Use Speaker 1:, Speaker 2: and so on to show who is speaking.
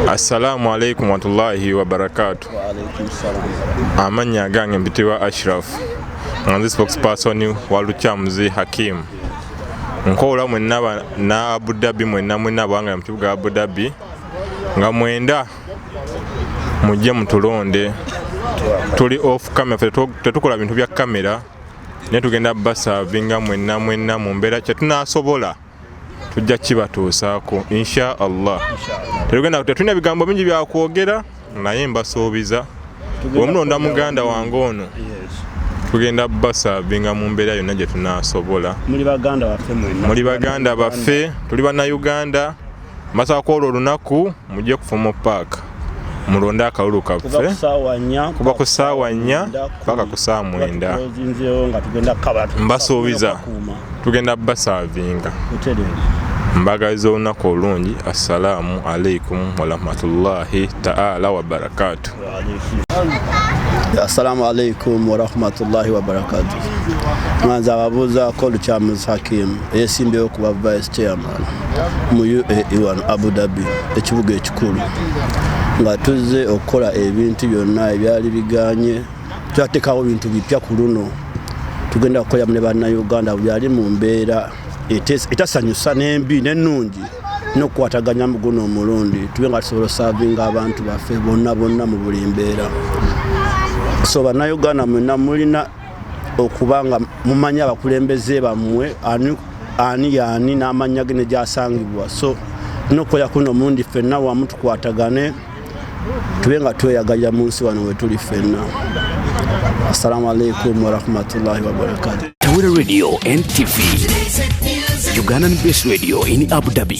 Speaker 1: Assalamu alaikum warahmatullahi wabarakatu.
Speaker 2: Amanya gange
Speaker 1: mpitibwa Ashraf nga nze spokesperson wa Lukyamuzi Hakim. Nkola mwenna na Abu Dhabi mwenna mwenna bwanga mu kibuga Abu Dhabi nga mwenda mujje mutulonde tuli off camera tetukola bintu bya kamera naye tugenda basavinga mwenna mwenna mu mbeera kyetunasobola tujja kibatuusaako insha allah tetugenda tetulina bigambo bingi byakwogera naye mbasuubiza omulonda muganda wange ono tugenda basavinga mu mbeera yonna gye tunasobola muli baganda baffe tuli bannayuganda masako olwo olunaku mujje kufumo paaka mulonde akalulu kaffe kuba ku saawa nnya paka ku saawa mwenda mbasuubiza tugenda basaavinga mbagaliza olunaku olungi assalaamu alaikum warahmatullahi taala wabarakaatu
Speaker 2: Assalamu alaikum warahmatullahi wabarakatu. Mwanza ababuuza ko Lukyamuzi Hakim eyeesimbyewo okuba vice chairman mu UAE wano Abu Dhabi ekibuga ekikulu nga tuzze okukola ebintu byonna ebyali biganye twatekawo bintu bipya ku luno tugenda kukolera mu ne bannayuganda byali mu mbeera etasanyusa n'embi n'ennungi n'okukwataganya mu guno omulundi tube nga tusobola osaavinga abantu baffe bonna bonna mu buli mbeera so bannayuganda mwena mulina okuba nga mumanyi abakulembeze bammwe ani yaani n'amannya ge ne gyasangibwa so nokukola kuno omulundi ffenna wamu tukwatagane tube nga tweyagalira mu nsi wano wetuli ffenna assalamu alaikum warahmatullahi wabarakatu tawira radio
Speaker 3: ntv ugandan base radio in abu dhabi